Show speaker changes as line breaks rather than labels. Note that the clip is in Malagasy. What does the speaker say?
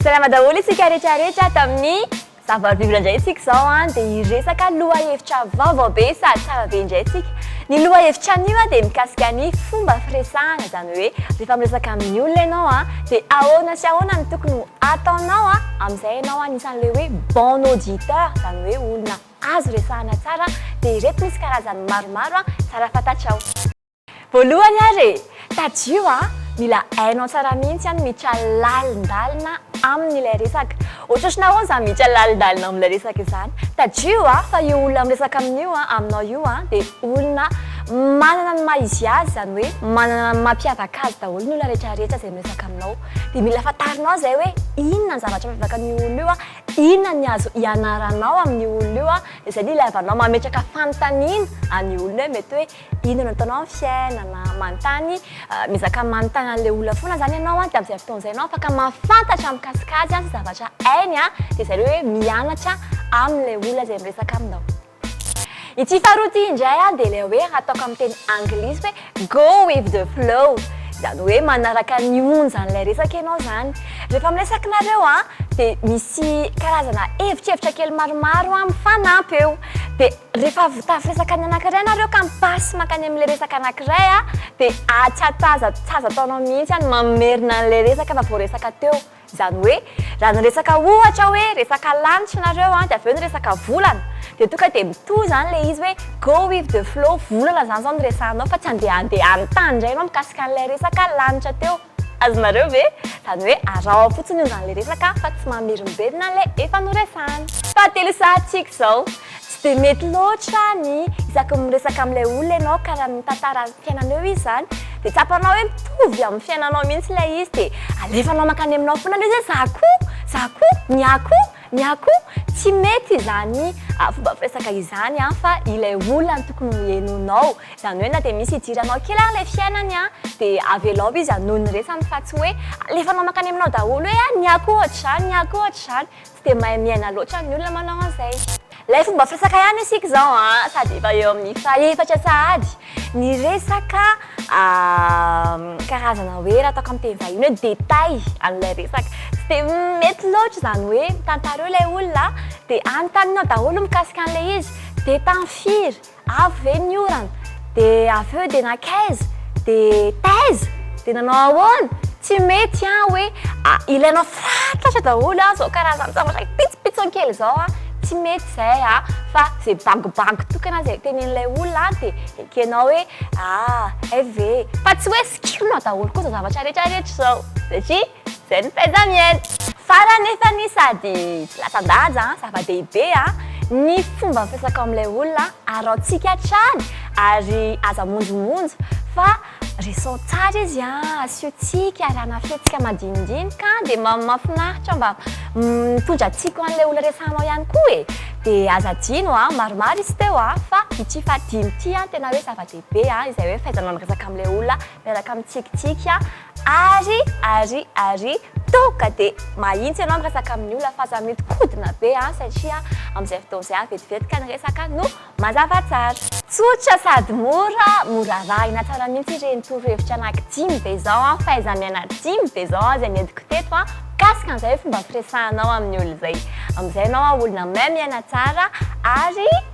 Salama daholo isika rehetrarehetra tamin'ny zava-bible indray isika izao an dia hiresaka loha hevitra vaovao be sady tsara be indray isika ny loha hevitra anio an dia mikasika ny fomba firesahana izany hoe rehefa miresaka amin'ny olona ianao an dia ahoana sy ahoana no tokony Ataonao a, amin'izay ianao anisan'ilay hoe bon auditeur, izany hoe olona azo resahana tsara, dia ireto misy karazany maromaro tsara fantatrao. Voalohany ary e! Tadidio a, mila hainao tsara mihitsy an miditra lalindalina amin'ilay resaka. Ohatrohatry nahoana izany miditra lalindalina amin'ilay resaka izany? Tadidio a, fa io olona miresaka amin'io a, aminao io a, dia olona manana ny maha izy azy, izany hoe manana ny mampiavaka azy daholo ny olona rehetra rehetra izay miresaka aminao. dia mila fantarinao izay hoe inona ny zavatra mampiavaka an'io olona io, inona ny azo ianaranao amin'io olona io, dia izay no ilaivanao mametraka fanontaniana an'io olona io hoe mety hoe inona no ataonao amin'ny fiainana, manontany, miezaka manontany an'ilay olona foana izany ianao dia amin'izay fotoana izay ianao afaka mahafantatra mikasika azy sy zavatra hainy dia izay hoe mianatra amin'ilay olona izay miresaka aminao. Ity faharoa ity indray dia ilay hoe ataoko amin'ny teny anglisy hoe go with the flow. Izany hoe manaraka ny onjan'ilay resaka ianao izany. Rehefa miresaka nareo dia misy karazana hevitrhevitra kely maromaro mifanampy eo. Dia rehefa avy mitafy resaka ny anankiray nareo ka mi-passe mankany amin'ilay resaka anankiray dia atsatsaza tsy azo ataonao mihitsy ny mamerina an'ilay resaka efa voaresaka teo. Izany hoe, raha niresaka ohatra hoe resaka lanitra ianareo an, dia avy eo niresaka volana, dia tonga dia mitohy izany ilay izy hoe go with the flow, volana izany izao no resahinao fa tsy handehandeha any tany indray ianao mikasika an'ilay resaka lanitra teo. Azonareo ve? Izany hoe araho fotsiny onjan'ilay resaka fa tsy mamerimberina an'ilay efa noresahana. Fahatelo sahatsika izao, Tsy dia mety loatra ny isaky ny miresaka amin'ilay olona ianao ka raha mitantara ny fiainanao eo izy izany dia tsapanao hoe mitovy amin'ny fiainanao mihitsy ilay izy dia alefanao mankany aminao foana ilay izy hoe za koa, za koa, ny ahy koa, ny ahy koa. Tsy mety izany fomba firesaka izany an fa ilay olona no tokony ho henoinao. Izany hoe na dia misy idiranao kely ary ilay fiainany an dia avelao izy hanohy ny resany fa tsy hoe alefanao mankany aminao daholo hoe ny ahy koa ohatr'izany, ny ahy koa ohatr'izany. Tsy dia mahay miaina loatra ny olona manao an'izay. Ilay fomba firesaka ihany isika izao an, sady efa eo amin'ny fahefatra sahady ny resaka karazana hoe raha ataoko amin'ny teny vahiny hoe détail an'ilay resaka. Tsy dia mety loatra izany hoe tantarao ilay olona dia anontaninao daholo mikasika an'ilay izy dia tamin'ny firy, Avy ve ny orana? Dia avy eo dia nankaiza? Dia taiza? Dia nanao ahoana? Tsy mety an! Hoe ilaina fatratra daholo an! Izao karazan-javatra pitsopitsony kely izao an! Tsy mety izay an! Fa izay bagibagy tokana izay tenenin'ilay olona an! Dia ekenao hoe ah! Hay ve e! Fa tsy hoe sikirinao daholo koa izao zavatra rehetra rehetra izao! Satria Zay ny fahaiza miaina. Tsara anefa ny sady tsy latsa-danja an, zava-dehibe an, ny fomba mifantsaka ao amin'ilay olona, araontsika hatrany ary aza monjomonjo fa resons tsara izy an, asiotsika, arahana fihetsika madinidinika an, dia mba mahafinaritra mba mitondra tsiko an'ilay olona resahanao ihany koa e, dia aza adino an, maromaro izy teo an, fa ity fahadimy ity an tena hoe zava-dehibe an, izay hoe fahaizanao miresaka amin'ilay olona miaraka amin'ny tsikitsiky an. Ary ary ary toaka dia mahitsy ianao miresaka amin'ny olona fa aza mihodinkodina be an, satria amin'izay fotoana izay an vetivety ka ny resaka no mazava tsara. Tsotra sady mora, mora arahina tsara mihitsy ireny torohevitra anaky dimy be izao an, fahaiza-miaina dimy be izao an, izay nentiko teto an, mikasika an'izay fomba firesahanao amin'ny olona izay. Amin'izay ianao an olona mahay miaina tsara ary.